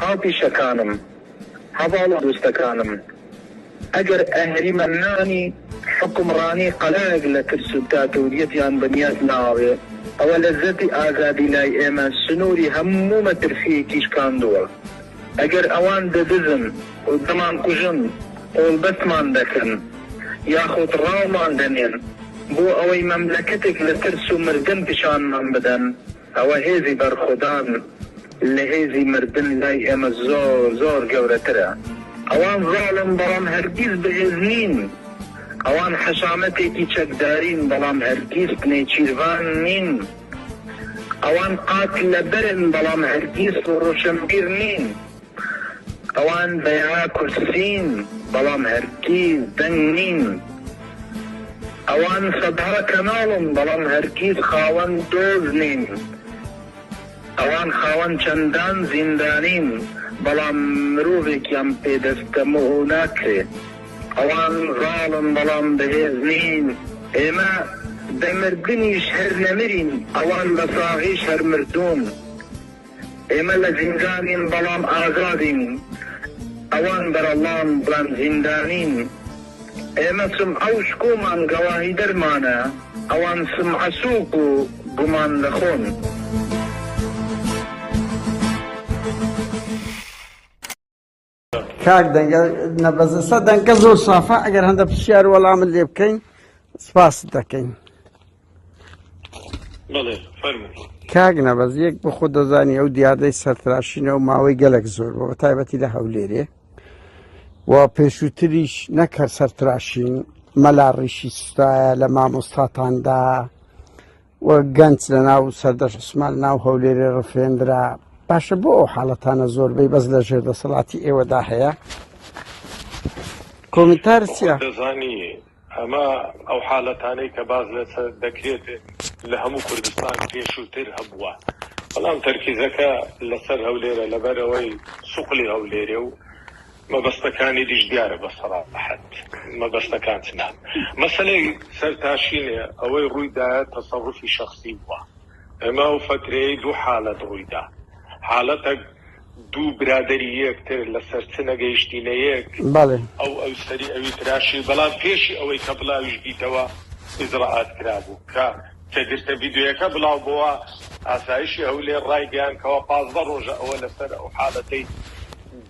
هاوپیشەکانم، هەڤاڵ و دۆستەکانم، ئەگەر ئەهریمەنانی حوکمڕانی قەڵایەک لە ترس و داتۆریەتیان بنیات ناوێ، ئەوە لەززەتی ئازادی لای ئێمە سنووری هەموو مەترسییەکی شکاندووە. ئەگەر ئەوان دەدزن و دەمانکوژن، قۆڵبەستمان دەکەن یاخود ڕاومان دەنێن بۆ ئەوەی مەملەکەتێک لە ترس و مردن پیشانمان بدەن، ئەوە هێزی بەرخودان لە هێزی مردن لای ئێمە زۆر زۆر گەورەترە. ئەوان زاڵن بەڵام هەرگیز بەهێز نین. ئەوان حەشامەتێکی چەکدارین بەڵام هەرگیز نێچیرڤان نین. ئەوان قات لە بەرن بەڵام هەرگیز ڕۆشنبیر نین. ئەوان بەیاا کورسین بەڵام هەرگیز دەنگ نین. ئەوان سەدها کەناڵن بەڵام هەرگیز خاوەن دۆز نین. ئەوان خاوەن چەندان زیندانین بەڵام مرۆڤێکیان پێ دەستەمۆ ناکرێ. ئەوان زاڵن بەڵام بەهێز نین. ئێمە بە مردنیش هەر نەمرین، ئەوان بە ساغیش هەر مردوون. ئێمە لە زیندانین بەڵام ئازادین، ئەوان بەرەڵڵان بەڵام زیندانین. ئێمە سمعە و شکۆمان گەواهیدەرمانە، ئەوان سمعە سووک و گومان لە خۆن. کاک دەنگە نەبەزەسە دەنگە زۆر سافە ئەگەر هەندە پرسیار وەڵامت لێ بکەین سپاس دەکەین کاک نەبەز یەک بە خۆ دەزانی ئەو دیاردەی سەرتراشینەوە ماوەی گەلک زۆر بۆ تایبەتی لە هەولێرێ و پێشووتریش نەکە سەرتراشین مەلا ڕیشی سوستایە لە مامۆستاتاندا و گەنج لە ناو سەردەش عوسمان ناو هەولێرێ ڕفێندرا باشە بۆ ئەو حاڵەتانە زۆربەی بەس لە ژێر دەسەڵاتی ئێوەدا هەیە کۆمنتار چیە؟ دەزانی ئەمە ئەو حالەتانەی کە باز لەسەر دەکرێت لە هەموو کوردستان پێشووتر هەبووە بەڵام تەرکیزەکە لەسەر هەولێرە لەبەرەوەی سوقلی هەولێرێ و مەبەستەکانی دیش دیارە بە سەراحەت مەبەستەکان چنان مەسەلەی سەر تاشینێ ئەوەی ڕووی دایە تەسەڕوفی شەخسی بووە ئێمە ئەو فەترەیەی دوو حالەت ڕووی دا حالەتەک دوو برادەری یەک تر لە سەر چ نەگەیشتینە یەک ئەو ئەو سەری ئەوی تراشی بەڵام پێشی ئەوەی کە بڵاویش بیتەوە ئیجرائات کرابوو کە کە گرتە ڤیدیۆیەکە بڵاو بۆوە ئاسایشی هەولێر ڕایگەیان کەوا پازدە ڕۆژە ئەوە لە سەر ئەو حالەتەی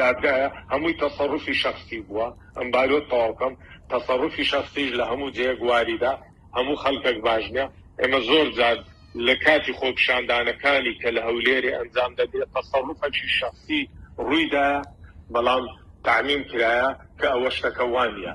دادگایە هەمووی تەسەروفی شەخسی بووە ئەم بارۆت تەواو کەم تەسەروفی شەخسیش لە هەموو جێیەک واریدە هەموو خەلکەک باش نیە ئێمە زۆر جار لە کاتی خۆپیشاندانەکانی کە لە هەولێرێ ئەنجام دەدرێ تەسەروفەکی شەخسی رووی دایە بەڵام تەعمیم کرایە کە ئەوە شتەکە وانیە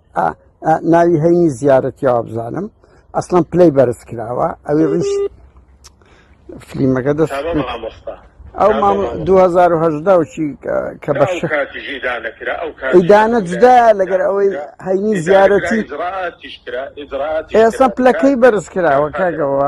ناوی هەینی زیارەتیەوە بزانم ئەسڵم پلەی بەرز کراوە ئەوی ڕیش فلیمەکە دەست ئەو مام 2010 چی کە بە ئیدانە جدا لەگەر ئەوەی هەینی زیارەتی ئێستا پلەکەی بەرز کراوە کاگەوە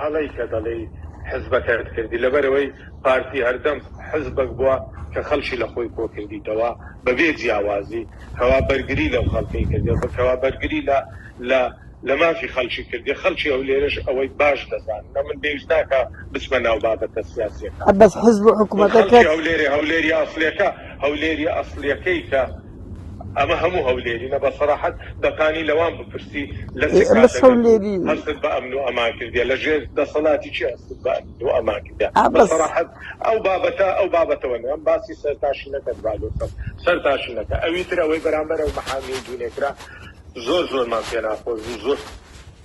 هەڵەی کە دەڵێی حزبەکەت کردی لەبەرئەوەی پارتی هەردەم حزبەک بوە کە خەڵکی لەخۆی کۆکردیتەوە بەبێ جیاوازی کەوا بەرگری لەو خەڵکەی کردە کەوا بەرگری لە لە لە مافی خەڵکی کردیە خەڵکی ئەولێرەش ئەوەی باش دەزانن ئەمن بێویست ناکا بچمە ناو بابەتە سیاسیەکان بەس حزب و حکومەتەکەت. خەڵکی هەولێرێ هەولێری ئەسڵیەکە هەولێری ئەسڵیەکەی کە. ئەمە هەموو هەولێرینە بە سەراحەت بەپانی لەوان بپرسی لە چ کاتێک هەستت بە ئەمن و ئەمان کردیە لە ژێر دەسەڵاتی چی هەستت بە ئەمن و ئەمان کردیە بە سەراحەت ئەو بابەتە ئەو بابەتەوە نەم باسی سەرتاشی نەکەن بالۆسەم سەرتاشی نەکە ئەوی تر ئەوەی بەرامبەر ئەو محامی و دوونێکرا زۆر زۆرمان پێ ناخۆش بوو زۆر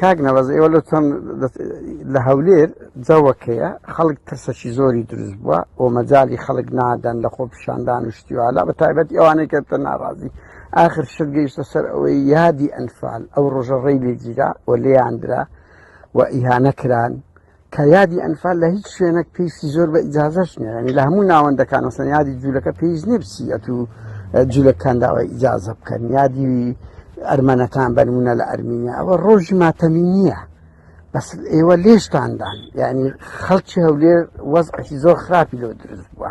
کاک نەوەز ئێوە لە چۆن لە هەولێر جەوەکەیە خەڵک ترسەکی زۆری دروست بووە و مەجای خەڵک نادەن لە خۆ پیشاندان و شتیوالا بە تایبەت ئەوانەی کە تە ناڕازی آخر شت گەیشتە سەر ئەوەی یادی ئەنفال ئەو ڕۆژە ڕێی لێگیرا و لێیاندرا و ئیهانە کران کە یادی ئەنفال لە هیچ شوێنێک پێویستی زۆر بە ئیجازەش نیە ینی لە هەموو ناوەندەکان وەسەن یادی جوولەکە پێویست نیە بچیەت و جوولەکان داوای ئیجازە بکەن یادی ئەرمەنەکان بەرمونە لە ئەرمینیا ئەوە ڕۆژی ماتەمی نییە بەس ئێوە لێشتاندان یعنی خەڵکی هەولێر وەزعی زۆر خراپی لۆ دروست بووە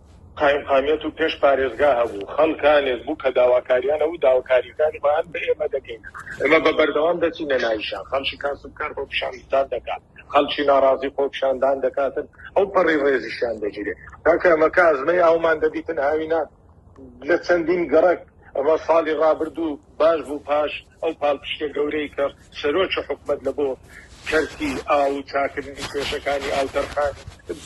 قایمقامیەت و پێش پارێزگا هەبوو، خەڵکانێک بوو کە داواکاریان هەبوو، داواکاریەکانی خۆیان بە ئێمە دەکەین، ئێمە بە بەردەوام دەچینە ناوی شار، خەڵکی کاسبکار خۆپیشاندتان دەکات، خەڵکی ناڕازی خۆپیشاندان دەکاتن، ئەو پەڕی ڕێزیشیان دەگیرێت، کاکە ئەمە کە ئەزمەی ئاومان دەدیتن هاوینان لە چەندین گەڕەک، ئەمە ساڵی ڕابردوو باش بوو پاش. ئەو پاڵپشتە گەورەی کە سەرۆکی حکومەت لە بۆ کەرتی ئاو و چاکردنی کێشەکانی ئاو تەرخان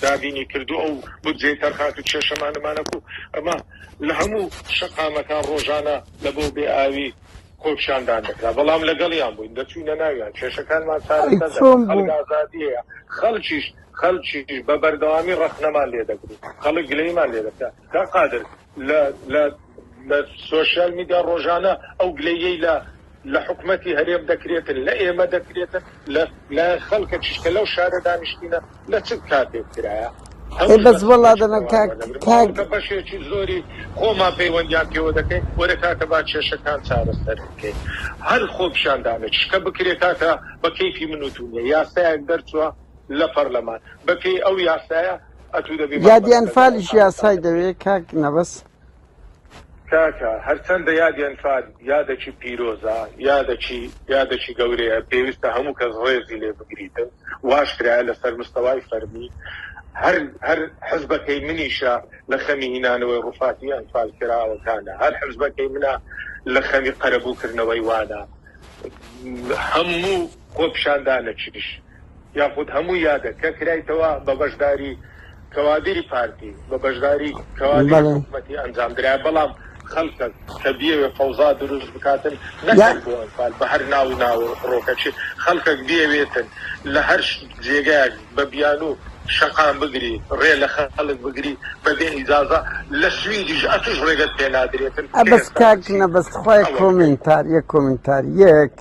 دابینی کردووە ئەو بودجەی تەرخان کرد کێشەمانەمانە بوو ئەمە لە هەموو شەقامەکان ڕۆژانە لە بۆ بێ ئاوی خۆپیشاندان دەکرا بەڵام لەگەڵیان بووین دەچووینە ناویان کێشەکانمان چارەسەر ئەی چۆن دەکرد خەڵک بوو ئازادی هەیە خەڵکیش خەڵکیش بە بەردەوامی ڕەخنەمان لێ دەگرت خەڵک گلەیمان لێ دەکرا کاک قادر لە لە لە سۆشیال میدیا ڕۆژانە ئەو گلەییەی لە لە حکومەتی هەرێم دەکرێتن لە ئێمە دەکرێتن لە لە خەڵکە چشکە لەو شارە دانیشتینە لە چ کاتێک کرایە ئەی بەس وەڵا دەنا کاک کاک کە بەشێکی زۆری خۆمان پەیوەندیان پێوە دەکەین وەرە کاکە با کێشەکان چارەسەر بکەین هەر خۆپیشاندانێک شکە بکرێت کاکە بە کەیفی من و تو نیە یاسایەک دەرچووە لە پەرلەمان بە پێی ئەو یاسایە ئەتوو دەبی یادی ئەنفالیش یاسای دەوێت کاک نەبەز. کاکە هەرچەندە یادی ئەنفال یادەکی پیرۆزە یادەکی یادەکی گەورەیە پێویستە هەموو کەس ڕێزی لێ بگریتن واش کرایە لەسەر مستەوای فەرمی هەر هەر حزبەکەی منیشە لە خەمی هینانەوەی ڕوفاتی ئەنفال کراوەکانە هەر حزبەکەی منە لە خەمی قەرەبوو کردنەوەی وانە هەموو خۆپیشاندانەکیش یاخود هەموو یادە کە کرایتەوە بە بەشداری کەوادری پارتی بە بەشداری کەوادری حکومەتی ئەنجام درای بەڵام خەلکەک کە بیەوێ فەوزا دروست بکاتن نەکەن بۆ ئەنفال بە هەر ناو ناو ڕۆکەچێ خەلکەک بیەوێتن لە هەر جێگایەک بە بیانوو شەقام بگری ڕێ لە خەلک بگری بە بێ ئیجازە لە سویدیش ئەتوش ڕێگەت پێ نادرێتن. ئەبەس کاک نەبەز خوای کۆمێنتار یەک کۆمێنتار یەک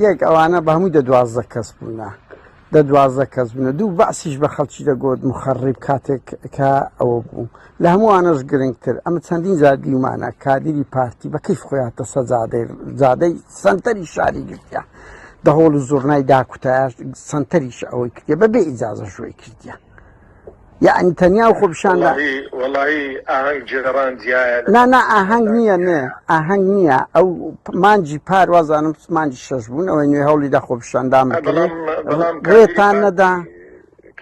یەک ئەوانە بە هەمووی دە دوازدە کەس بوونە دە دوازدە کەس بوونە دوو بەعسیش بە خەڵکی دەگوت مخەڕیب کاتێک کە ئەوە بوو لە هەمووانەش گرنگتر ئەمە چەندین جار دیومانە کادری پارتی بە کەیف خۆیاتە سە جادەی جادەی سنتەری شاری گرتە دەهۆڵ و زۆرنای داکوتایش سنتەریش ئەوەی کردە بە بێ ئیجازە شوێی کردە یعنی تەنیا و خۆپشاندا نانا ئاهنگ نییە نێ ئاهنگ نییە ئەو مانجی پار وازانم مانجی شەش بوون ئەوەی نوێ هەوڵی دا خۆپشاندام بکرێتان نەدا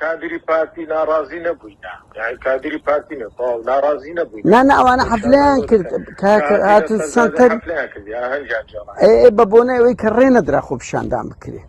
کادری پارتی ناڕازی نەبووی کادری پارتی ناڕازی نەبووی نانا ئەوانە حەفلیان کرد هاتن سنتەر بە بۆنەوەی کە ڕێ نەدرا خۆپشاندان بکرێت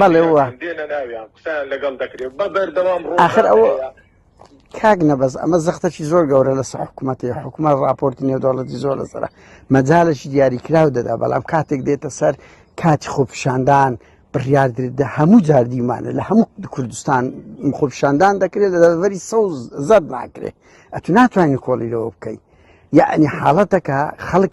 بەڵێ وا ئاخر ئەوە کاک نەبەز ئەمە زەختەکی زۆر گەورە لەسە حکوومەتی حکوومەت راپۆرتی نێودوڵەتی زۆر لەسرە مەجالێکی دیاریکراو دەدا بەڵام کاتێک دێتە سەر کاتی خۆپشاندان بڕاردردا هەموو جاردیمانە لە هەموو کوردستان خۆپشاندان دەکرێت لە دەوەری سەوز زەر ناکرێت ئەتو ناتوانین کۆڵی لەوە بکەیت یعنی حاڵەتەکە خەڵک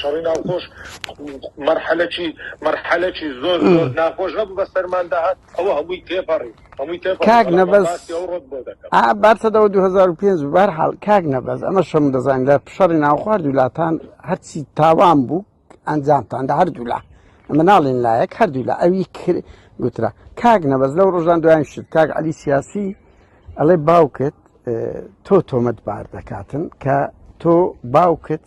شەڕی ناوخۆش مەرحەلەکی مەرحەلەکی زۆر زۆر ناخۆش هەبوو بە سەرماندا هات ئەوە هەمووی تێپەڕی هەمووی تێپەڕی کاک بەڵام نەبەز. باسی ئەو ڕۆت بۆ دەکەم ئا بارتەدەوە 2005 بار حاڵ کاک نەبەز ئەمە شەم دەزانین لە شەڕی ناوخوار دوولاتان هەرچی تاوان بوو ئەنجامتان لە هەردوولا ئەمە ناڵێن لایەک هەردوولا ئەوی کر گوترا کاک نەبەز لەو ڕۆژان دوایان شت کاک علی سیاسی ئەڵێ باوکت اه، تۆ تۆمەت بار دەکاتن کە تۆ باوکت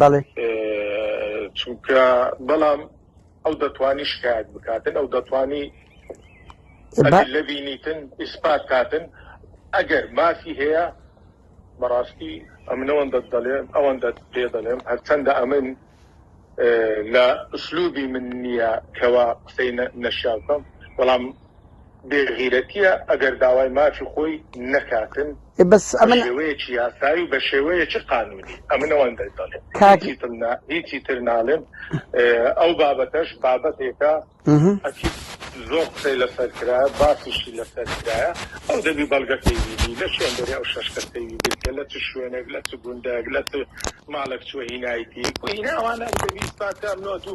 بەڵێ چونکە بەڵام ئەو دەتوانی شکایت بکاتن ئەو دەتوانی لە بینیتن ئیسپات کاتن ئەگەر مافی هەیە بەڕاستی ئەمنەوەن دەت دەڵێن ئەوەن دەت پێ دەڵێم هەرچەندە ئەمن لە ئوسلوبی من نییە کەوا قسەی نەشیاکەم بەڵام بێ غیرەتیە ئەگەر داوای مافی خۆی نەکاتن بەس ئەمن شێوەیەکی یاسایی و بە شێوەیەکی قانونی ئەمن ئەوەن دەڵێت هیچی تر ناڵێم ئەو بابەتەش بابەتێکە زۆر قسەی لەسەر کرا باسیشی لەسەر کرایە ئەو دەبی بەڵگەکەی بینی لە شوێن دەری ئەو شش کەسەوی گرتە لە چ شوێنێک لە چ گوندێک لە چ ماڵک چوە هینایتی ئەوانە دەبی ساکە ئەمنۆت و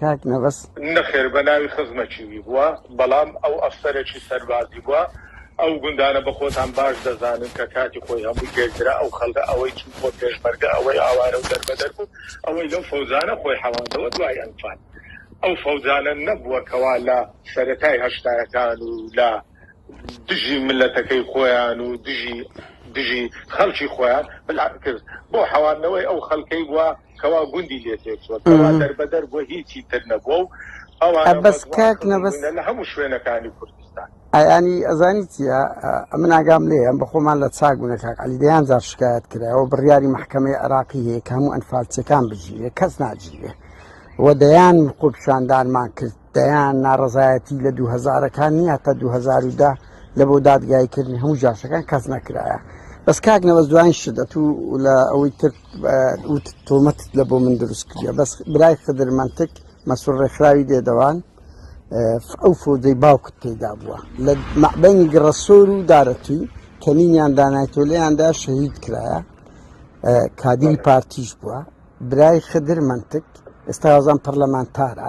کاک نەبەز. نەخێر بەناوی خزمە چیوی بووە بەڵام ئەو ئەفسەرەی سەربازی بووە ئەو گوندانە بەخۆتان باش دەزانن کە کاتی خۆی هەمووی لێکدرا ئەو خەڵکە ئەوەی چوو بووە پێشمەرگە ئەوەی ئاوارە و دەربەدەر بوو ئەوەی لەو فەوجانە خۆی حەواندەوە دوای ئەنفال ئەو فەوجانە نەبووە کەوا لە سەرەتای هەشتایەکان و لە دژی ملەتەکەی خۆیان و دژی دژی خەڵکی خۆیان بلان کرد بۆ حەواندنەوەی ئەو خەڵکەی بووە کوا گوندی لێ تێکچووە، کوا دەربەدەر بووە، هیچی تر نەبووە و ئەوانە ئە بەس ڕەدوان کاک کردوون نەبەز بوونە لە هەموو شوێنەکانی کوردستان. ئەیانی ئەزانی چیە ئەمن ئاگام لێیە ئەم بەخۆمان لە چاک بوونە کاک عەلی دەیان جار شکایەت کرایەوە بڕیاری مەحکەمەی عێراقی هەیە کە هەموو ئەنفالچیەکان بگیرێ کەس ناگیرێ و دەیان خۆپیشاندانمان کرد دەیان ناڕەزایەتی لە دوو هەزارەکان نییە تا دوو هەزار و دە لە بۆ دادگایکردنی هەموو جاشەکان کەس نەکرایە بەس کاک نەوەز دوایین شدەت و لە ئەوەی تر تۆمەت لە بۆ من دروست کردە بەس برای خدر منتک مەسوور ڕێکخراوی دێدەوان ئەو فۆدەی باوکت پێدا بووە لە مەبەنی گڕەسۆر و دارەتی کەمینیان دانایتۆلیاندا شەهید کرایە کادیری پارتیش بووە برای خدر منتک ئێستا هەزان پەرلەمانتارە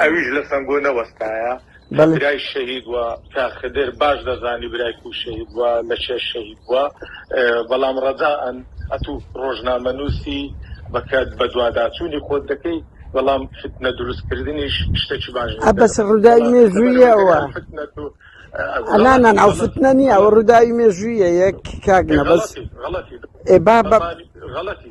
ئەویش لە سەنگۆ نەوەستایە برای شەهید وە کە خدر باش دەزانی برای کو شەهید وە لە چێ شەهید وە بەڵام ڕەداەن ئەتو ڕۆژنامەنووسی بەکات بەدوواداچوونی خۆت دەکەی بەڵام فتنە دروستکردنیش شتێکی باش بەس ڕووداوی مێژوویەوە ئەلانان ئەو فتنە نیە ئەو ڕووداوی مێژوویە یەک کاک نەبەس ئێ با بە غەڵەتی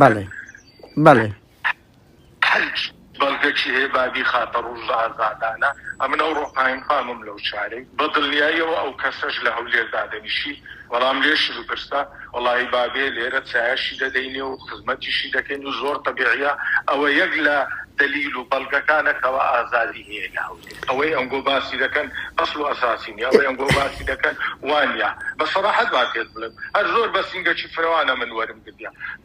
بەڵێ بەڵێ حج بەڵگەکی هەیە بابی خاتە ڕوژ ئازادانە ئەمن ئەو ڕۆقایم خامم لەو چارەی بە دڵنیاییەوە ئەو کەسەش لە هەولێر دادەنیشی وەڵام لێشی بپرسە وەڵاهی بابێ لێرە چایەشی دەدەینێ و خزمەتیشی دەکەین و زۆر تەبیعیە ئەوە یەک لە دەلیل و بەڵگەکانە کەوا ئازادی نییە لە هەولێر ئەوەی ئەنگۆ باسی دەکەن ئەسڵ و ئەساسی نیە ئەوەی ئەنگۆ باسی دەکەن وانە بە سەراحەت با پێت بڵێم هەر زۆر بە سینگەکی فرەوانە من وەرم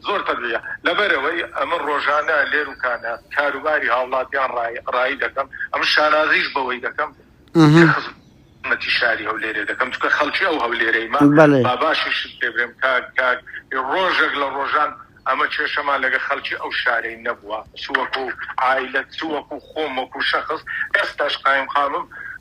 زۆر تەبیعیە لەبەرئەوەی ئەمن ڕۆژانە لێر و کانە کاروباری هاوڵاتیان ڕایی دەکەم ئەمن شانازیش بەوەی دەکەم خزمەتی شاری هەولێرێ دەکەم چکە خەڵکی ئەو هەولێرەیمە باباشی شت پێ بێم کاک کاک ڕۆژێک لە ڕۆژان ئەمە کێشەمان لەگە خەڵکی ئەو شارەی نەبووە سووەکو ئایلەت سووەکو خۆم وەکو شەخص ئێستاش قایم قامم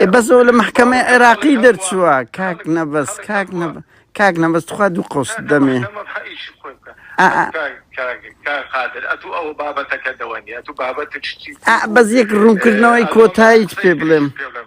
ئێ بەس ئەو لە مەحکەمەی عێراقی دەرچووە کاک نەبەز کاک نەبە کاک نەبەز تخوا دوو قۆس دەمێ ئا بەس یەک ڕوونکردنەوەی کۆتاییت پێ بڵێم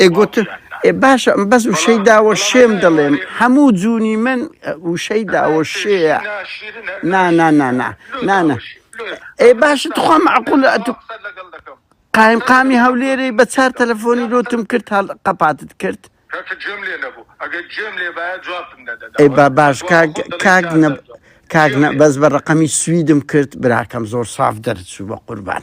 ئێ گوت ئێ باشە بەس وشەی داوە شێم دەڵێم هەموو جوونی من وشەی داوە شێە نانانانا نانە ئێ باشە تخوا معقولە ئەتو قایم قامی هەولێرەی بە چار تەلەفۆنی لۆتم کرد هەڵ قەپاتت کرد ئەی با باش کاک کاک نە کاک نە بەس بە ڕقەمی سویدم کرد براکەم زۆر ساف دەرچوو بە قوربان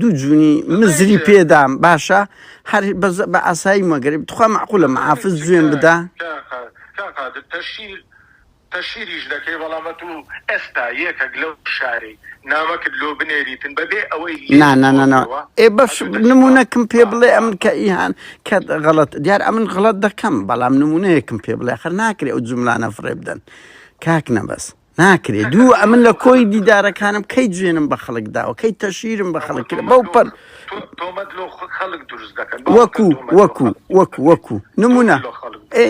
دوو جونی مزری پێدام باشە هەر بە ئاسایی مەگەری بتخوا معقولە محافز جوێن بدا تەشیریش دەکەی بەڵامە تو ئێستا یەکەک لەو شاری نامەکرد لۆ بنێریتن بەبێ ئەوەی ئێ بەش نمونونەکم پێ بڵێ ئەم کە ئیهان کە غەڵت دیار ئەمن غڵت دەکەم بەڵام نمونونەیەکم پێ بڵێ خەر ناکرێ ئەو جملانە فڕێ بدەن کاک نەبەست ناکرێ دوو ئەمن لە کۆی دیدارەکانم کەی جوێنم بە خەڵک داوە کەی تەشیرم بە خەڵک کرد بەو پەر وەکو وەکو وەکو وەکو نمونە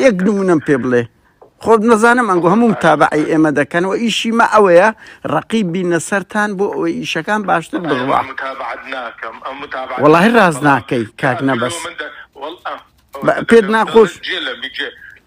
یەک نمونەم پێ بڵێ خۆت نەزانم ئەنگۆ هەموم تابعی ئێمە دەکەنەوە ئیشی مە ئەوەیە ڕقی بینە سەران بۆ ئەوەی ئیشەکان باشتر بڕوا وڵی ڕاز ناکەی کاک نەبەس پێت ناخۆش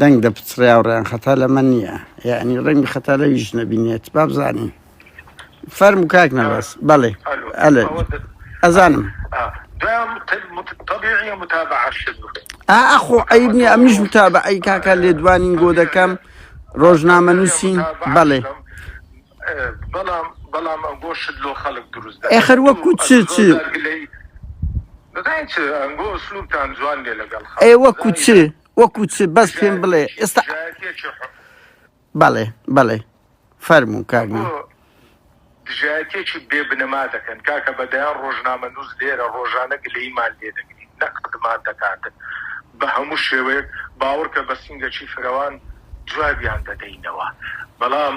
دەنگ دەپچڕێاو ڕێان خەتا لەمە نییە یانی ڕەنگی خەتا لەویش نەبینێت با بزانین فەرم کاک نەبەس بەڵێ ئەلێ ئەزانم ئاخۆ ئەیب نیە ئەمیش وتا بە ئەی کاکە لێدوانین گۆ دەکەم ڕۆژنامە نووسین بەڵێ بەڵام بەڵام گۆشت لۆ خەڵک دروست ئەخر وەکو چ چ ئێوە کوچێ وەکو چ بەس پێم بڵێ ئێستا بەڵێ بەڵێ فەرمو کارمە دژایەتێکی بێ بنەما دەکەن کاکە بەدەیان ڕۆژنامە نووس لێرە ڕۆژانە گلەیمان لێ دەگری نەقدمان دەکاتن بە هەموو شێوەیەک باوەڕکە بە سنگەکی فرەوان جوابیان دەدەینەوە بەڵام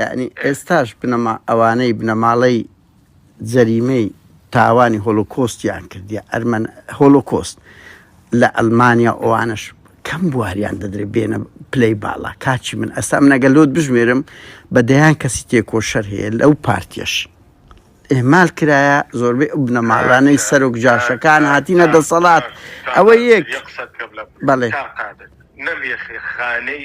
یەعنی ئێستاش بنەما ئەوانەی بنەماڵەی جەریمەی تاوانی هۆلۆکۆستیان کردیە ئەرمەن هۆلۆکۆست لە ئەلمانیا ئەوانەش کەم بواریان دەدرێ بێنە پلەی باڵا کاچی من ئەستا منەگە لۆت بژمێرم بە دەیان کەسی تێکۆشەر هەیە لەو پارتیش ئێمال کرایە زۆربەی ئەو بنەماڵانەی سەرۆک جاشەکان هاتیینە دەسەڵات ئەوە یەک بەڵێ نەم یەخێ خانەی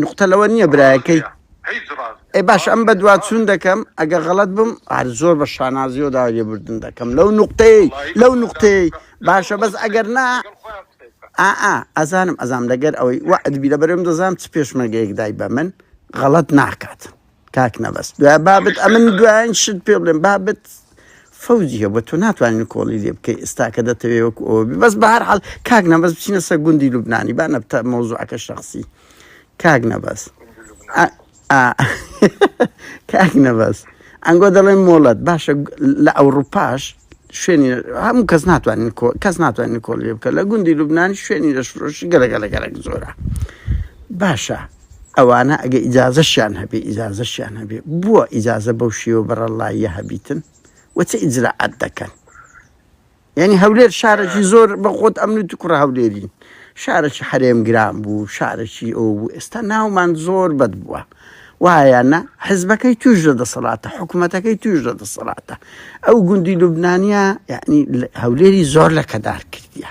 نوقتە لەوە نییە برایەکەی ڕاستە هیچ ڕاست ئێ باش ئەم ڕاست بە نییە دوا چوون ڕاست نییە دەکەم ئەگە غەڵەت بم هەر زۆر بە شانازیەوە داوای لێبوردن دەکەم لەو نوقتەیەی وەڵایی لەو ئەوە داوا نوقتەیەی بکە لەگەڵ باشە خۆت بەس قسەی ئەگەر بکە نا لەگەڵ خۆیان قسەی بکە ئا ئا ئەزانم ئەزانم لەگەر ئەوەی وەعد بی لەبەرئەوەم دەزانم چ پێشمەرگەیەک دای بە من غەڵەت ناکات کاک نەبەز دوای بابت ئەمن دوایین شت پێ بڵێم بابت فەوجی هەبوو تۆ ناتوانین کۆڵی لێ بکەی ئێستاکە دەتەوێ وەکو ئەوە بی بەس بە هەر حاڵ کاک نەبەز بچینە سەر گوندی لوبنانی با نەبتە مەوزوعەکە شخصی کاک نەبەز ئا- ئا- کاک نەبەز ئەنگۆ دەڵێن مۆڵەت باشە گ- لە ئەوروپاش شوێنی هەموو کەس ناتوانین کۆ- کەس ناتوانین کۆڵی لێ بکە لە گوندی لوبنانی شوێنی لە شرۆشی گەلەگەلە گەلەک زۆرە باشە ئەوانە ئەگە ئیجازەشیان هەبێ ئیجازەشیان هەبێ بۆ ئیجازە بەو شێوە بەڕەڵڵاییە هەبیتن و چ ئیجرائات دەکەن یعنی هەولێر شارەکی زۆر بە خۆت ئەمنوتی کوڕە هەولێری شارەکی حەرێم گران بوو شارەکی ئەو بوو ئێستا ناومان زۆر بەد بووە وایەنە حزبەکەی توش لە دەسەڵاتە حکوومەتەکەی توش لە دەسەڵاتە ئەو گوندی لوبنانیا یعنی هەولێری زۆر لە کەدار کردیە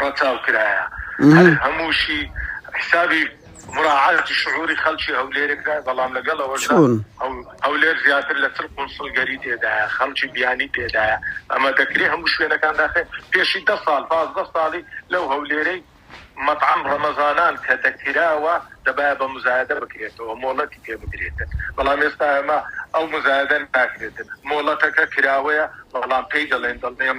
ڕەچاو کرایە هەر هەمووشی حسابی مراعاتی شعوری خەلکی هەولێرێک کرا بەڵام لەگەڵ ئەوەش چۆن هەولێر زیاتر لە چل قونسڵ گەری تێدایە خەڵکی بیانی تێدایە ئەمە دەکرێ هەموو شوێنەکان داخێ پێشی دە ساڵ پازدە ساڵی لەو هەولێرەی مەطعم ڕەمەزانان کە دەکراوە دەبایە بە مزایدە بکرێتەوە مۆڵەتی پێ بگرێتن بەڵام ئێستا ئەمە ئەو مزایدە ناکرێتن مۆڵەتەکە کراوەیە بەڵام پێی دەڵێن دڵنێم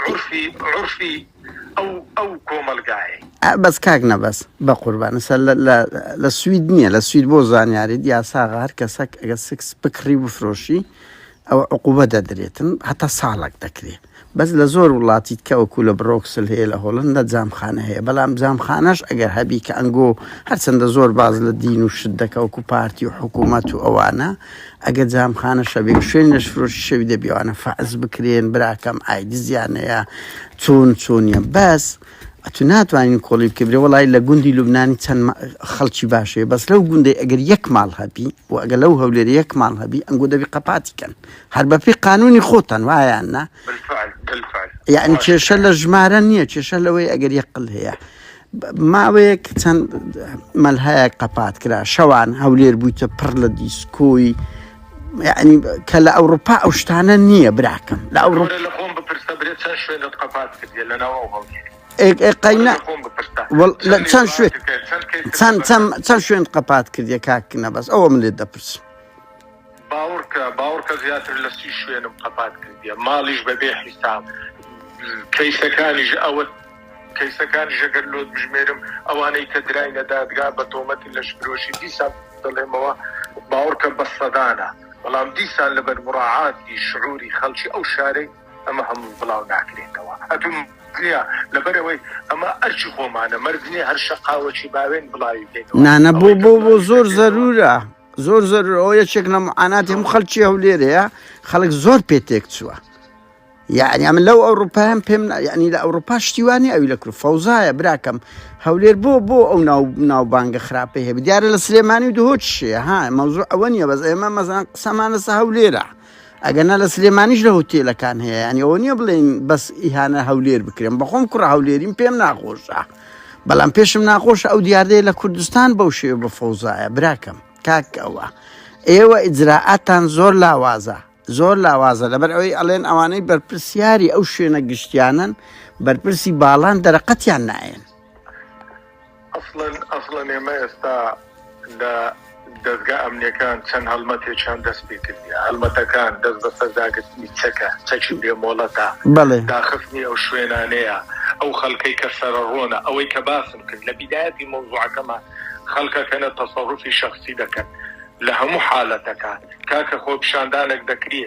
عورفی عورفی ئەو ئەو کۆمەڵگایەی. بەس کاک نەبەز بەقوربانت سە لە لە لە سوید نیە لە سوید بۆ زانیاریت یاساغا هەر کەسەک ئەگەر سکس بکڕی بفرۆشی ئەوە عقوبە دەدرێتن هەتا ساڵەک دەکرێ بەس لە زۆر وڵاتی تکە وەکوو لە برۆکسل هەیە لە هۆڵندە جامخانە هەیە بەلام جامخانەش ئەگەر هەبی کە ئەنگۆ هەرچەندە زۆر باز لە دین و شت دەکە وەکوو پارتی و حکوومەت و ئەوانە ئەگەر جامخانە شەبێ و شوێنی لەشفرۆشی شەوی دەبێ ئەوانە فەرز بکرێن براکەم ئای دزیان هەیە چۆن چۆنیە بەس ئەتو ناتوانین کۆڵی بکە برێ وڵی لە گوندی لوبنانی چەند ما- خەڵکی باشەیە بەس لەو گوندەی ئەگەر یەک ماڵ هەبی و ئەگە لەو هەولێر یەک ماڵ هەبی ئەنگۆ دەبی قەپاتی کەن هەر بە پێی قانونی خۆتان وایان نا بالفعل بالفعل یعنی باشە. کێشە لە ژمارە نییە کێشە لەوەی ئەگەر یەقل هەیە ماوەیەک چەند مەلهایەک قەپات کرا شەوان هەولێر بوویتە پڕ لە دیسکۆی یعنی کە لە ئەوروپا ئەو شتانە نییە براکەم لە ئەوروپا لە خۆم بپرسە برێ چەند شوێنت قەپات کردیە لە ناو ئەو هەڵگیر قەینا چەند شوێن چەند چەند چەند شوێن قەپات کردیە کاک نەبەز ئەوە من لێت دەپرسم باوڕکە باوڕکە زیاتر لە سی شوێنم قەپات کردیە ماڵیش بەبێ حیساب کەیسەکانیش ئەوە کەیسەکانی ژەگەر لۆت بژمێرم ئەوانەی کە دراینە دادگا بە تۆمەتی لەش فرۆشی دیسان دەڵێمەوە باوەڕکە بە سەدانە بەڵام دیسان لەبەر مڕاعاتی شعوری خەڵکی ئەو شارەی ئەمە هەموو بڵاو ناکرێتەوە ئەتوم نیە لەبەرەوەی ئەمە ئەرچی خۆمانە مەرج نیە هەر شەقاوەکی باوێن بڵاوی بکەین نانە بۆ بۆ بۆ زۆر زەرورە زۆر زۆر ئەو یەکێک لە معاناتی هەموو خەلکی هەولێرەیە خەڵک زۆر پێ تێک چووە یعنی ئەمە لەو ئەوروپایان پێم ینی لە ئەوروپا شتیوانی ئەوی لە کرد فەوزایە براکەم هەولێر بۆ بۆ ئەو ناو ناوبانگە خراپی هەیە دیارە لە سلێمانی و دهۆچشەیە ها مەوزوع ئەوە نیە بەس ئێمە مەزان قسەمانەسە هەولێرە ئەگەرنا لە سلێمانیش لە هۆتێلەکان هەیە یانی ئەوە نییە بڵێین بەس ئیهانە هەولێر بکرێن بەخۆم کوڕە هەولێریم پێم ناخۆشە بەڵام پێشم ناخۆشە ئەو دیاردەیە لە کوردستان بەو شێ بە فەوزایە براکەم کاک ئەوە ئێوە ئیجرراعاتان زۆر لاوازە زۆر لاوازە لەبەر ئەوەی ئەڵێن ئەوانەی بەرپرسیاری ئەو شوێنە گشتیانن بەرپرسی باڵان دەرەقەتیان نایەن ئەسڵەن ئەسڵەن ئێمە ئێستا لە دەزگا ئەمنیەکان چەند هەڵمەتێکیان دەست پێ کردیە هەڵمەتەکان دەست بەسەر داگرتنی چەکە چەکی بێ مۆڵەتە بەڵێ داخستنی ئەو شوێنانەیە ئەو خەلکەی کە سەرەڕۆنە ئەوەی کە باسم کرد لە بیدایەتی مەوزوعەکەما خەلکەکەنە تەسەروفی شەخسی دەکەن لە هەموو حالەتەکان کاکە خۆپیشاندانەک دەکرێ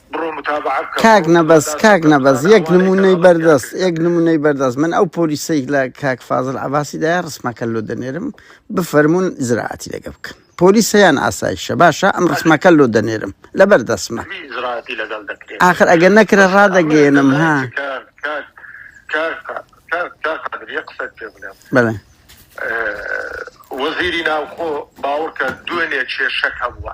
کاک نەبەز کاک نەبەز یەک نمونەی بەردەست یەک نمونەی بەردەست من ئەو پۆلیسەی لە کاک فازل عباسی دای ڕسمەکە لۆ دەنێرم بفەرمونون زراعاتی لەگە بکەن پۆلیسیان ئاسایشە باشە ئەم ڕسمەکە لۆ دەنێرم لە بەردەسمە آخر ئەگە نەکرە ڕادەگەێنم ها بڵێ وەزیری ناوخۆ باوەڕکە دوێنێ کێشەکە بووە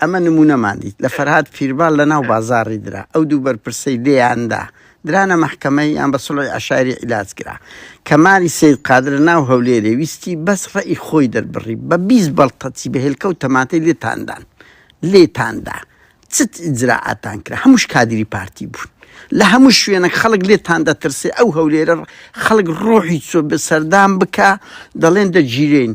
ئەمە نموونەمان دیت لە فەرهاد پیربال لە ناو بازاڕی درا ئەو دوو بەرپرسەی لێیان دا درانە مەحکەمەی یان بە سوڵحی عەشایری عیلاج کرا کەمالی سەید قادر لە ناو هەولێرێ ویستی بەس ڕەئی خۆی دەربڕی بە بیست بەڵقەچی بە هێلکە و تەماتەی لێتان دان لێتان دا چ ئیجرائاتان کرا هەمووش کادری پارتی بوون لە هەموو شوێنێک خەڵک لێتان دەترسێ ئەو هەولێرە خەڵک ڕۆحی چۆ بە سەردان بکا دەڵێن دەگیرێین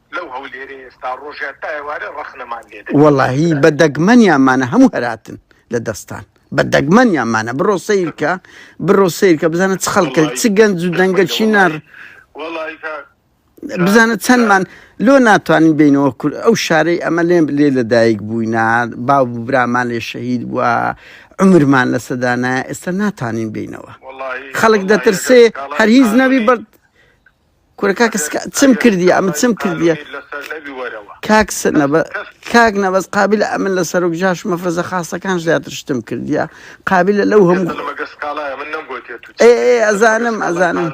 لەو هەولێرەی ئێستا ڕۆژێ تا ئێوارێ ڕەخنەمان لێ دەگرن. وەڵاهی بە دەگمەنیانمانە هەموو هەراتن لە دەستان بە دەگمەنیانمانە بڕۆ سەیرکە بڕۆ سەیرکە بزانە چ خەڵکە وەڵاهی چ گەنج و دەنگە دەگمەنە چی نار وەڵاهی وەڵاهی کا کا بزانە کا چەندمان لۆ ناتوانین بینەوە کور ئەو شارەی ئەمە لێ لێ لەدایک بووینە باو و برامان لێ شەهید بووە عومرمان لەسەدانایە ئێستا ناتوانین بینەوە وەڵاهی خەڵک وەڵاهی ئەگەر دەترسێ هەر سکاڵای هیچ نەبی سانەوی بەڵ کورە کاکە سکا چم کردی ئەمە چم کردیە کاک سنەبە کاک نەبەز قابل ئەمن لە سەرۆک جاش مەفرەزە خاستەکان زیاتر شتم کردیە قابل لەو هەموو ئەزانم ئەزانم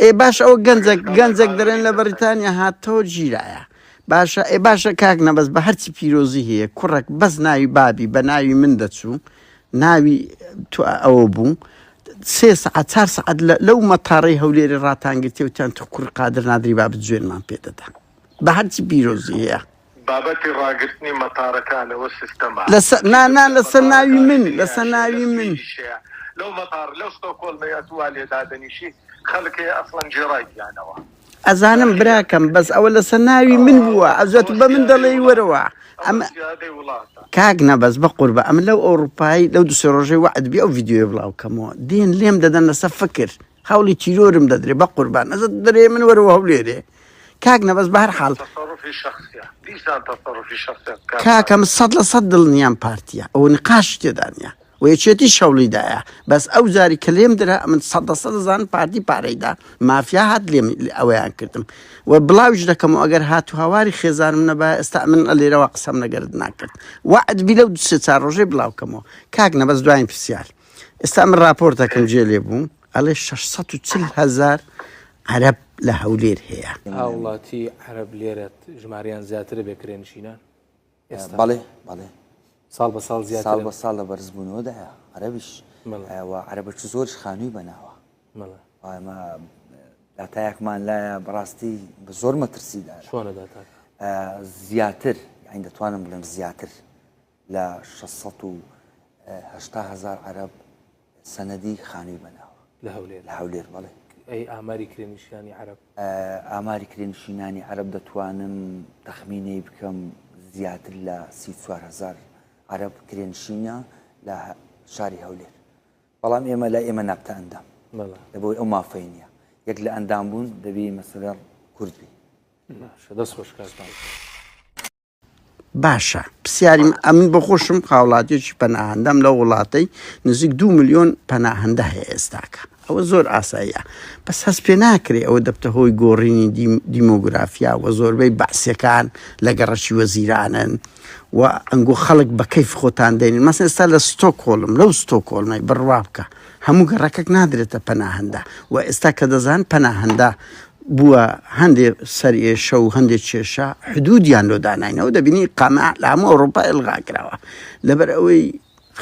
ئێ باش ئەو گەنجەک گەنجەک دەرێن لە بەریتانیا هاتەوە گیرایە باشە ئێ باشە کاک نەبەز بە هەرچی پیرۆزی هەیە کوڕک بەس ناوی بابی بە ناوی من دەچوو ناوی تو ئەوە بوو سێ سەعات چار سەعات لەو مەتاڕی هەولێری ڕاتانگرتێوتیان تخکوڕ قادر نادری بابت جوێنمان پێدەدا بە هەرچی بیرۆزی هەیە. بابەتی ڕاگرتنی مەتارەکانەوە سیستەمە نانا لەسەر ناوی من لەسەر ناوی من لەو مەتار لەو ستۆکۆڵمەیە توا لێدادەنیشی خەلکەیە ئەسڵەن جێڕای گیانەوە. ئەزانم براکەم بەس ئەوە لەسەر ناوی من بووە ئەزە تو بە من دەڵێی وەرەوە ئەمە کاک نەبەز بە قوربە ئەم لەو ئەوروپایی لەو دوسێ ڕۆژەی وعدبی ئەو یددیوێ بڵاوکەمەوە دێن لێم دەدەن لەسە فکر هەوڵی تیرۆرم دەدرێ بە قوربان ئەزە دەرێ من وەرەوە هەولێرێ کاک نەبەز بە هەر حاڵ کاکەم سەد لە سەد دڵنیام پارتیە ئەو نقاش تێدانە و یەکێتیش هەوڵی دایە بەس ئەو جاری کە لێم درا ئەمن سەد لە سەد ئەزانم پارتی پارەی دا مافیا هات لێم ئەوەیان کردم و بڵاویش دەکەم و ئەگەر هات و هەواری خێزانم نەبایە ئێستا ئەمن لێرەوە قسەم لەگەرت ناکرد وەعد بی لەو دو سێ چار ڕۆژەی بڵاو کەمەوە کاک نەبەز دواین پرسیار ئێستا من ڕاپۆرتەکەم جێ لێ بوو ئەڵێ شەش سەد و چل هەزار عەرەب لە هەولێر هەیە. هاوڵاتی عەرەب لێرەت ژمارەیان زیاترە بێ کرێنشینان؟ بەڵێ بەڵێ ساڵ بە ساڵ زیاد ساڵ بە ساڵ لە بەرزبوونەوەدایە عەربیش عەربە چ زۆرش خانووی بەناوە ئەمە داتایەکمان لایە بەڕاستی بە زۆر مەترسیدا شوانە داتا زیاتر ئەین دەتوانم بڵێم زیاتر لە 600 هزار عرب سەنەدی خانووی بەناوە. لە هەولێر؟ لە هەولێر بەڵێ. ئەی ئاماری کرێنشینانی عەرەب؟ ئاماری کرێنشینانی عەرەب دەتوانم تەخمینەی بکەم زیاتر لە سی و چوار هەزار عەرەب کرێنشینە لە شاری هەولێر بەڵام ئێمە لای ئێمە نابتە ئەندام لەبەوەی ئەو مافەی نییە یەک لە ئەندام بوون دەبی مەسەلەر کورد بی باشە دەست خۆش کاک مامە. باشە پسیاریم ئەمن بۆ خۆشم هاوڵاتیێکی پەناهندەم لە وڵاتەی نزیک دو میلیۆن پەناهندە هەیە ئێستاکە ئەوە زۆر ئاساییە بەس هەست پێ ناکرێ ئەوە دەبتە هۆی گۆڕینی دیمۆگرافیا و زۆربەی بەعسیەکان لە گەڕەکی وەزیرانن و ئەنگۆ خەڵک بە کەیف خۆتان دێنین مەسن ئێستا لە ستۆکۆڵم لەو ستۆکۆڵمەی بڕوا بکە هەموو گەڕەکەک نادرێتە پەناهەندە و ئێستا کە دەزان پەناهەندە بووە هەندێ سەرێشە و هەندێک کێشە حدودیان لۆ داناینەوە دەبینی قامە لە هەموو ئەوروپا ئەلغاکراوە لەبەر ئەوەی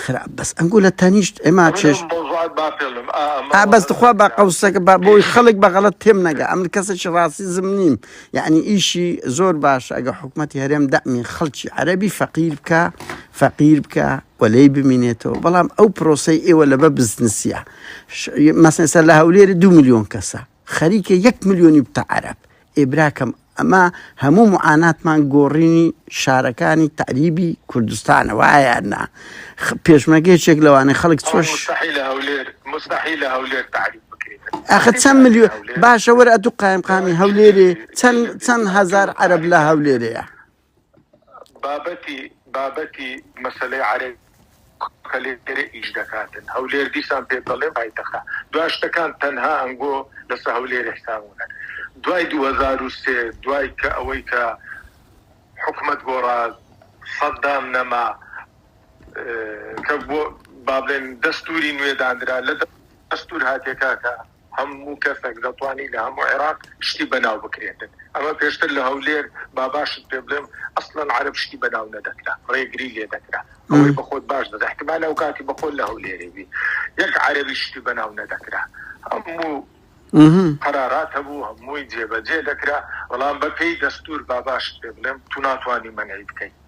خراپ بەس ئەنگۆ لە تەنیشت ئێمە چێش بەس دخوا بە قەوسەکە بە بۆی خەڵک بە غەڵت تێم نەگە ئەم کەسێکی ڕاستی زم نیم یعنی ئیشی زۆر باش ئەگە حکوومەتتی هەرێم دەمی خەڵکی عەربی فەقیر بکە فەقیر بکە و لێی بمینێتەوە بەڵام ئەو پرۆسەی ئێوە لە بە بزنسیە مەسەسەر لە هەولێری دو میلیۆن کەسە خەریکە یەک میلیۆنی بتە عرب ئێبراکەم ئەمە هەموو معاناتمان گۆڕینی شارەکانی تعریبی کوردستانە وایاننا پێشمەگەیشێک لەوانەیە خەڵک چۆش ئەخە چەند ملیۆ باشەوەرە ئەتو قایمقامی هەولێرێ چەند چەند هزار عرب لە هەولێرەیە بابەتی بابەتی مەسەلەی عەرەبی کە لێرە ئیش دەکاتن، هەولێر دیسان پێت دەڵێم پایتەخە، دوا شتەکان تەنها ئەنگۆ لەسە هەولێر حسابونە، دوای دوو هەزار و سێ دوای کە ئەوەی کە حکومەت گۆڕا سەدام نەما کە بۆ بابلێن دەستوری نوێ دانرا لە دەستور هاتیە کاکە، هەموو کەسەک دەتوانی لە هەموو عێراق شتی بەناو بکرێتن ئەمە پێشتر لە هەولێر با باشت پێ بڵێم ئەسڵەن عەرەب شتی بەناو نەدەکرا ڕێگری لێ دەکرا ئەوەی بە خۆت باش دەزانی احتمال ئەو کاتی بە خۆت لە هەولێرێ بی یەک عەرەبی شتی بەناو نەدەکرا هەموو قەرارات هەبوو هەمووی جێبەجێ دەکرا بەڵام بەپێی دەستور با باشت پێ بڵێم تو ناتوانی مەنعی بکەی.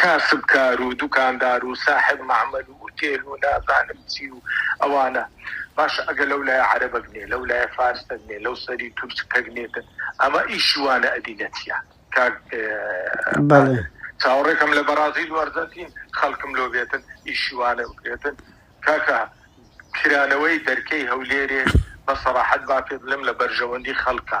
کاسبکار و دوکاندار و ساحێب مەعمەل و ئوتێل و نازانم چی و ئەوانە باشە ئەگە لەو لایە عەرەبەک نێ لەو لایە فارسەک نێ لەو سەری تورک کەک نێتن ئەمە ئیشی وانە ئەدی نەتیە کاک بەڵێ قادر چاوەڕێکەم لە بەڕازیل و ئەرجەنتین خەڵکم لۆ بێتن ئیشی وانە بکرێتن کاکە کرانەوەی دەرکەی هەولێرێ بە سەڕاحەت با پێت بڵێم لە بەرژەوەندی خەڵکە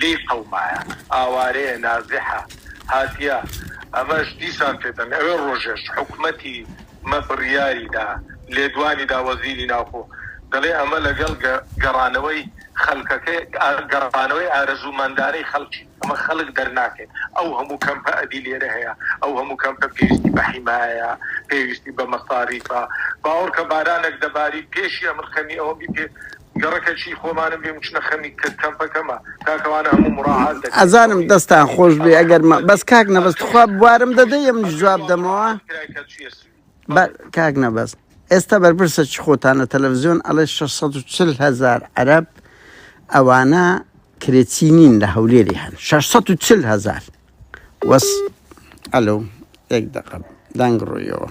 لێی قەومایە ئاوارەیە نازحە هاتیە ئەمەش دیسان پێتەن ئەوێ ڕۆژێش حکومەتی مە بڕیاری دا لێدوانی دا وەزیری ناوخۆ دەڵێ ئەمە لەگەڵ گەڕانەوەی خەلکەکەی گەڕانەوەی ئارەزوو مەندانەی خەڵکی ئەمە خەڵک دەرناکەین ئەو هەموو کەمپە ئەدی لێرە هەیە ئەو هەموو کەمپە پێویستی بە حیمایە پێویستی بە مەساریفە باوەڕکە بارانێک دەباری پێشی ئەمن خەمی ئەوەم بی پێ گەڕەکە چی خۆمانم بێ مچنە خەمی کە کەمپەکەمە تاکەوانە هەموو مڕاعات دەکەین. ئەزانم دەستان خۆش بێ ئەگەر مە بەس کاک نەبەز تخوا بوارم دەدەی ئەمنیش جواب دەمەوە بە کاک نەبەز ئێستا بەرپرسە چی خۆتان لە تەلەڤزیۆن ئەڵێ شەش سەد و چل هەزار عەرەب ئەوانە کرێچی نین لە هەولێری هەن شەش سەد و چل هەزار وەس ئەلو یەک دەقە دەنگ ڕوویەوە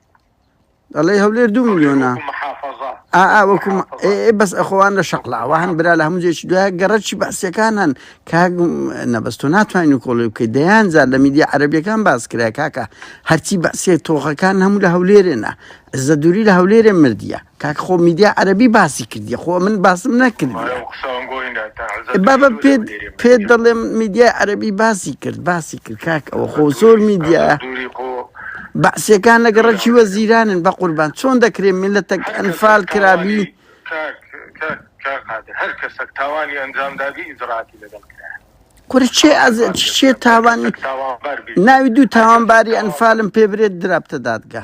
دەڵێ هەولێر دو ملیۆنە ئاوەکوم بەس ئەخۆوان لە شەقلاوە هەن برا لە هەموو جێکی دوای گەڕەکی باسیەکان هەن کاک نەبەستۆ ناتوانین و کۆڵی بکەیت دەیان جار لە میدیا عەربیەکان باس کرای کاکە هەرچی بەسێ تۆخەکان هەموو لە هەولێرێنە زە دووری لە هەولێرێ مردە کاک خۆ میدیا عەرەبی باسی کردیە خۆ من باسم نەکردیە بابە پێت پێت دەڵێم میدیای عەرەبی باسی کرد باسی کرد کاک ئەوە خۆ زۆر میدیا بەعسیەکان لەگە ڕەکی وە زیرانن بە قوربان چۆن دەکرێن ملەتەک ئەنفال کرابی هەر کەسەک تاوانی ئەنجامدابی ئیزراتی لەگەڵ کرا کورە چێ ئەز چێ تاوانی ناوی دوو تاوانباری ئەنفالم پێ برێت درابتە دادگە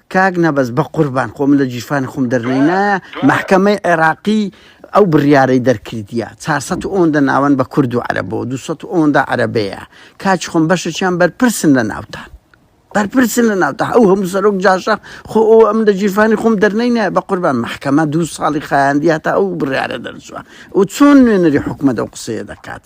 کاک نەبەز بەقوربان خۆ من لە گیرفانی خۆم دەرنەینایە مەحکەمەی عێراقی ئەو بڕیارەی دەرکردیە چار سەد و ئەوەندە ناوەند بە کورد و عەرەبەوە دوو سەد و ئەوەندە عەرەبەیە کاچ خۆم بەشەکیان بەرپرسن لە ناوتان بەرپرسن لە ناوتە ئەو هەموو سەرۆک جاشە خۆ ئەو ئەم لە گیرفانی خۆم دەرنەینایە بە قوربان مەحکەمە دوو ساڵی خایاندی هەتا ئەو بڕیارە دەرچووە و چۆن نوێنەری حکومەت ئەو قسەیە دەکات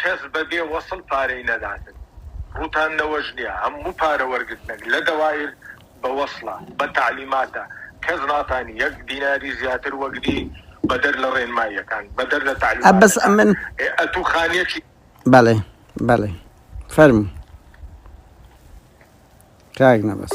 کەس بە بێ وەسڵ پارەی نەداتن ڕوتان نەوەش نیە هەموو پارە وەرگرتنەک لە دەوائیر بە وەسڵە بە تەعلیماتە کەس ناتانی یەک دیناری زیاتر وەگری بە دەر لە ڕێنمایەکان بە دەر لە تەعلیماتەکان ئێ ئەتوو خانیەکی. بەڵێ بەڵێ فەرموو کاک نەبەز.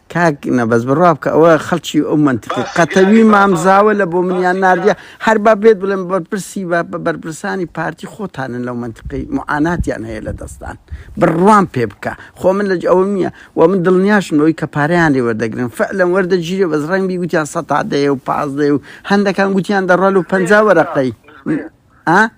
کاک نەبەز بڕوا بکە ئەوە خەڵکی ئەو منتقی قەتەوی مامزاوە لە بۆ منیان نردە هەر با بێت بڵێن بەرپرسی بە بە بەرپرسانی پارتی خۆتانن لەو منتقی معاناتیان هەیە لە دەستان بڕوان پێ بکە خۆ من لە ئەو نییە و من دڵنیاشنەوەی کە پاریان لێ وەردەگرن فعلەن وەردەگیرێ بەس ڕنگ بیگوتیان سە دەیە و پازدەیە و هەندەکان گوتیان دەڕۆل و پ وەرەقەی ئا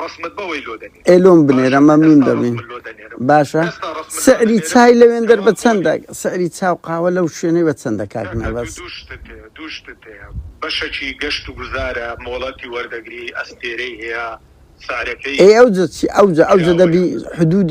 ڕەسمت بەوەی لۆ دەنێرم. ئێ لۆم بنێرە مەمنون دەبین باشە سعری چای لەوێندەر بە چەندە سعری چا و قاوە لەو شوێنەی بە چەندە کاک مەبەست. دوو شتت هەیە دوو شتت هەیە بەشەکی گەشت و گوزارە مۆڵەتی وەردەگری ئەستێرەی هەیە سعرەکەی. ئێ ئەوجە چی ئەوجە ئەوجە دەبی حدود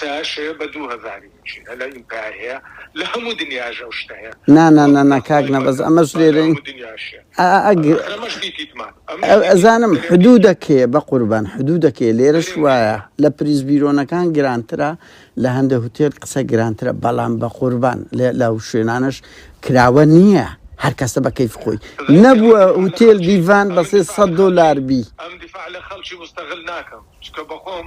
تاش هەیە بە دوو هەزاری بچی هەلە ئینتای هەیە لە هەموو دنیاژە و شتە هەیە نانانانا کاک نەبەز ئەمەش لێرە ئەزانم حدوو دەکێ بە قوربان حدوو دەکێ لێرەش وایە لە پریز بیرۆنەکان گرانترە لە هەندە هوتێل قسە گرانترە بەڵام بە قوربان لە شوێنانش کراوە نییە هەر کەسە بە کەیف خۆی نەبووە هوتێل دیڤان بەسێ 100 دلار بی ئەم دیفاع لە خەڵکی مستەغل ناکەم چکە بەخۆم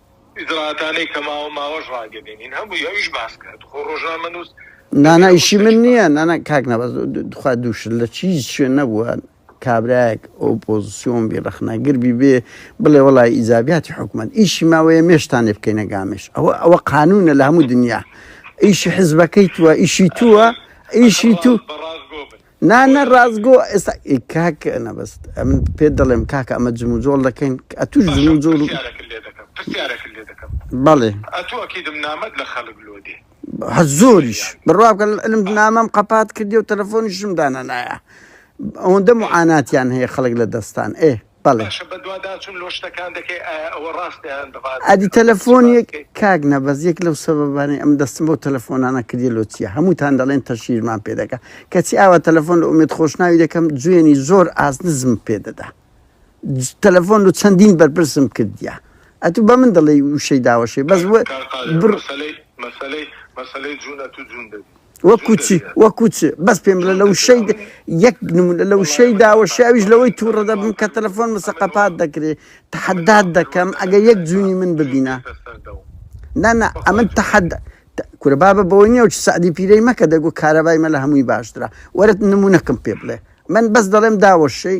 ئیجرائاتانەی کە ماوە ماوەش ڕاگەیەنین هەمووی ئەویش باس کرد خۆ ڕۆژنامەنووس نانا ئیشی من نییە نانا کاک نەبەز دخوا دووش لە چیز شوێ نەبووە کابراایەک ئۆپۆزیسیۆن بی ڕخنەگر بی بێ بڵێ وڵی ئیزابیاتی حکومت ئیشی ماوەیە مێشتانێ بکەینە گامێش ئەوە ئەوە قانونە لە هەموو دنیا ئیشی حزبەکەی تووە ئیشی تووە ئیشی تو نا نا ڕاستگۆ ئێستا ئی کاک نەبەست ئەمن پێت دەڵێم کاکە ئەمە جموجۆڵ دەکەین ئەتوش باشە جموجۆڵ پرسیارەکە لێ دەکەم پرسیارەکە لێ دەکەم بەڵێ ئەتو ئەکیدم نامەت لە خەلک لۆ دێ هە زۆریش زۆریان بڕواکە علم آه نامەم قەپات کردی و تەلەفۆنیشم دانەنایە ئەوەندە آه معاناتیان هەیە خەڵک لە دەستان ئێ بەڵێ. باشە بەدواداچوون لۆ شتەکان دەکەی ئایا ئەوە ڕاستە یان بەفاست ئەدی بکەم چی تەلەفۆن باس یەک بکەی؟ کاک نەبەز یەک لەو سەبەبانەی ئەم دەستم بەو تەلەفۆنانە کردیە لۆ چیە هەمووتان دەڵێن تەشهیرمان پێ دەکا کەچی ئاوا تەلەفۆن لە ئومێد خۆشناوی دەکەم جوێنی زۆر ئاست نزمم پێ دەدا ج- تەلەفۆن لە چەندین بەرپرسم کردیە ئەتوو بە من دەڵێی وشەی داوەشێ بەس کاک وە کاک قادر بڕ مەسەلەی مەسەلەی مەسەلەی جوونە تو جوون دەبی وەکو چی وەکو چ بەس پێم بڵێ لە وشەی د- یەک نمونە لە وشەی داوە شاویش لەوەی تووڕە دەبم کە تەلەفۆن مسەقەپات دەکرێ تحدات دەکەم ئەگە یەک جوونی من ببینە نا نا ئەمن تحد ت- کورە بابە بەوە نیە و چ سعدی پیرەی مەکە دەگو کارەبای مە لە هەمووی باشترە وەرت نمونەکەم پێ بڵێ من بەس دەڵێم داوەشەی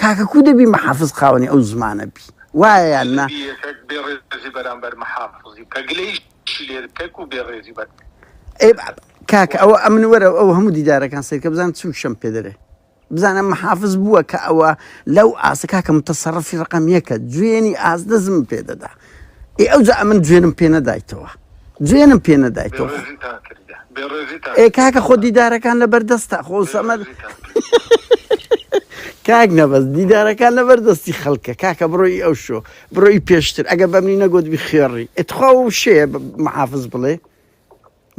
کاکە کو دەبی محافز خاوەنی ئەو زمانە بی وایە یان نا؟ دەبی یەکەک بێ ڕێزی بەرامبەر محافزی بکە گلەیشی لێ بکە کو بێ ڕێزی بەر ئەی کاکە ئەوە ئەمن وەرە ئەو هەموو دیدارەکان سەیرکە بزان چ وشەم پێ دەرێ بزانە محافز بووە کە ئەوە لەو ئاسە کاکە متەسەڕەفی ڕقم یەکە جوێنی ئاست دەزم پێ دەدا ئێ ئەوجا ئەمن جوێنم پێ نەدایتەوە جوێنم پێ نەدایتەوە ئێ کاکە خۆ دیدارەکان لە بەردەستە خۆ سەمەر کاک نەبەست دیدارەکان لە بەردەستی خەڵکە کاکە بڕۆی ئەو شۆ بڕۆی پێشتر ئەگە بەمنی نەگوت بخێڕی ئەتخوا و شێ محافز بڵێ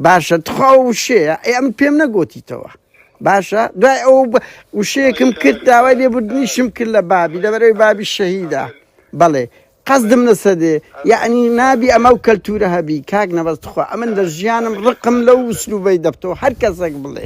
باشە تخوا و وشەیە ئەی ئەم پێم نەگوتیتەوە باشە دوای ئەو ب- وشەیەکم کرد داوای لێبوردنیشم کرد لە بابی دەبەرەوەی بابی شەهیدا بەڵێ قەزدم لەسەر دێ یعنی نابی ئەمە و کەلتورە هەبی کاک نەبەز تخوا ئەمن لە ژیانم ڕقم لەو وسلوبەی دەبتەوە هەر کەسێک بڵێ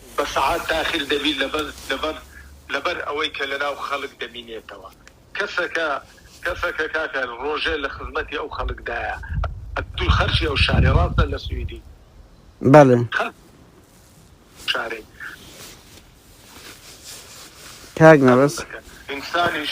بە سەعات تاخیر دەبی لەبەر لەبەر لەبەر ئەوەی کە لەناو خەلک دەمینێتەوە کەسەکە کەسەکە کاکە رۆژێ لە خزمەتی ئەو خەلک دایە ئەتو خەرکی ئەو شارەی راستە لە سویدی بەلێ خەلک شارەی کاک نەبەز. ئینسانیش.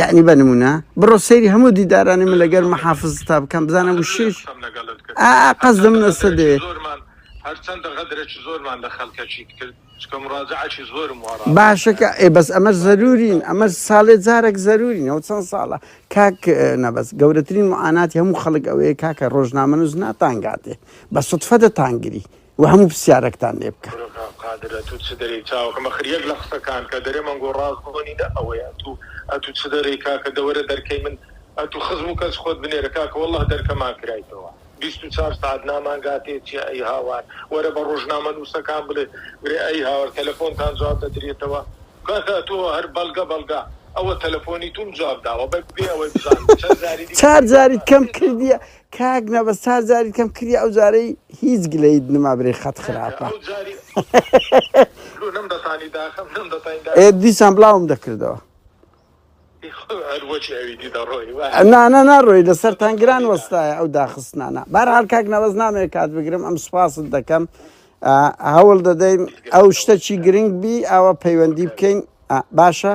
یعنی بە نمونە بڕۆ سەیری هەموو دیدارانی من لەگەر مەحافز تا بکەم بزانە وشێش قەزم نەسە دێ هەرچەندە غەدرێکی زۆرمان لە خەلکەچی کرد چکە مڕاجعکی زۆرم وڕ باشەکە ئێ بەس ئەمە زەرورین ئەمە ساڵێ جارێک زەرورین ئەو چەند ساڵە کاک نەبەس گەورەترین معاناتی هەموو خەڵک ئەوەیە کاکە ڕۆژنامەنووس ناتانگاتێ بە سوتفە دەتانگری و هەموو پرسیارەکتان لێ بکا. برۆ کاک قادر ئەتوو چ دەرێی چاوەکەم ئەخر یەک لە قسەکان کە دەرێ مەنگۆ ڕاست بۆ نینە ئەوەیە ئەتوو ئەتوو چ دەرێی کاکە دەوەرە دەرکەی من ئەتوو خزم و کەس خۆت بنێرە کاکە وەڵاه دەرکەمان کرایتەوە بیست و چار سەعات نامانگاتێ چیە ئەی هاوار وەرە بە ڕۆژنامە نووسەکان بڵێ برێ ئەی هاوار تەلەفۆنتان جواب دەدرێتەوە کاکە ئەتوو هەر بەڵگە بەڵگە ئەوە تەلەفۆنی تووم جواب داوە بەبێ ئەوەی بزانم چەند جاری دیکە چار جاریت کەم کردیە کاک نەبەز چار جاریت کەم کری ئەو جارەی هیچ گلەیت نما برێ خەت خراپە ئێ دیسان بڵاوم دەکردەوە نانا ناڕۆی لەسەر تەنگران وەستایە ئەو داخستنانە بار هەر کاک نەوەز نامێ کات بگرم ئەم سوپاست دەکەم هەوڵ دەدەین ئەو شتەکی گرنگ بی ئەوە پەیوەندی بکەین باشە